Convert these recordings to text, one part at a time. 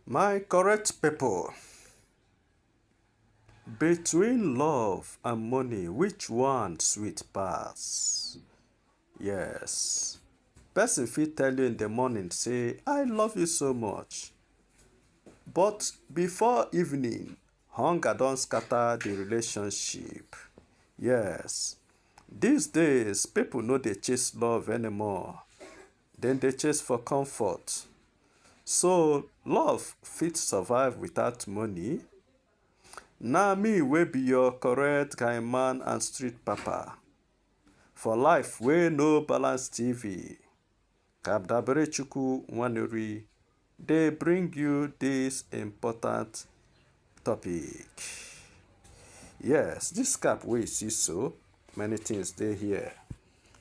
My correct people, between love and money, which one sweet pass? Yes. Person fit tell you in the morning, say, I love you so much. But before evening, hunger don scatter the relationship. Yes. These days, people no dey chase love anymore. Dem dey chase for comfort. So love fit survive without money? Na me wey be your correct guy man and street papa. For life wey no balance TV. Kabdaberechukwu Nwaneri dey bring you this important topic yes this cap wey you see so many things dey here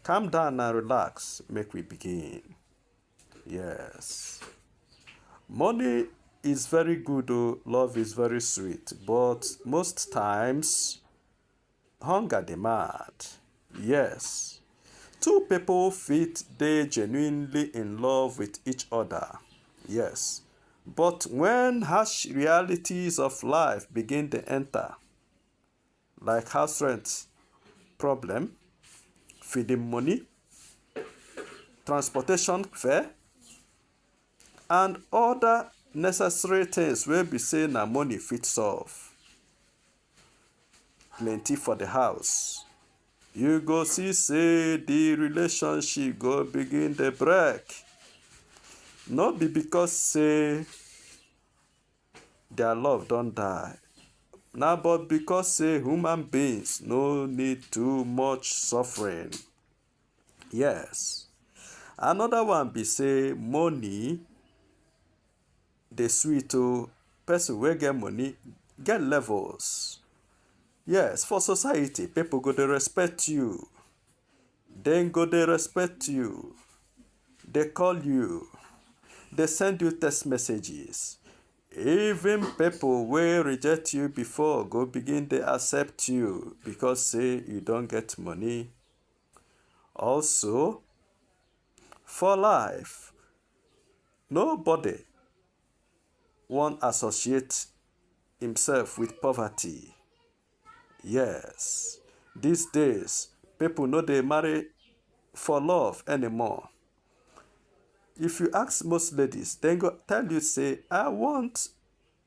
calm down and relax make we begin yes money is very good o oh, love is very sweet but most times Hunger dey mad, yes. Two people fit dey genuinely in love with each other, yes. But when harsh realities of life begin dey enter, like house rent problem, feeding money, transportation fare, and other necessary things wey be say na money fit solve, plenty for the house you go see say the relationship go begin the break no be because say their love don't die Now, but because say human beings no need too much suffering yes another one be say money Dey sweet oh, person wey get money get levels. Yes, for society, people go dey respect you. Dem go dey respect you. Dey call you. Dey send you text messages. Even people wey reject you before go begin dey accept you because say you don get money. Also, for life, Nobody wan associate himself with poverty. Yes, these days people no dey marry for love anymore. If you ask most ladies, dem go tell you say I want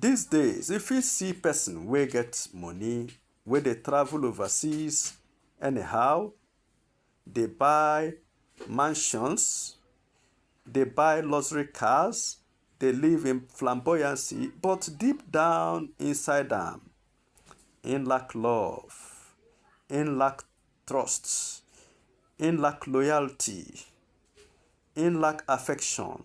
These days, if you see person wey get money, wey dey travel overseas anyhow, dey buy mansions, dey buy luxury cars, dey live in flamboyancy, but deep down inside am, in lack love, in lack trust, in lack loyalty, in lack affection.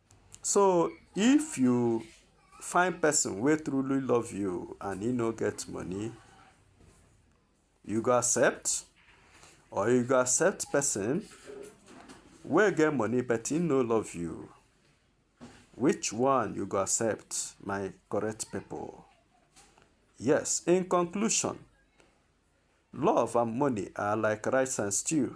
So if you find person wey truly love you and he no get money, you go accept or you go accept person wey get money but he no love you. Which one you go accept, my correct people? Yes, in conclusion, love and money are like rice and stew.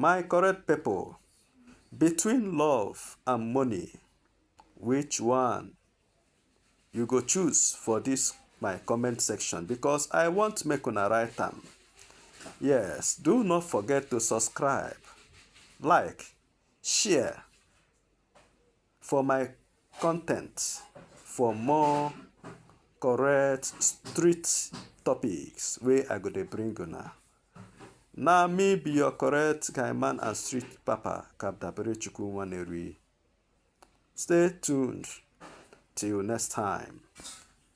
My correct people, between love and money, which one you go choose for this my comment section because I want make una write am. Yes, do not forget to subscribe, like, share, for my content for more correct street topics wey I go dey bring una. Na me be your correct guy man and street papa Kabdabere Chukwu Nwaneri. Stay tuned till next time.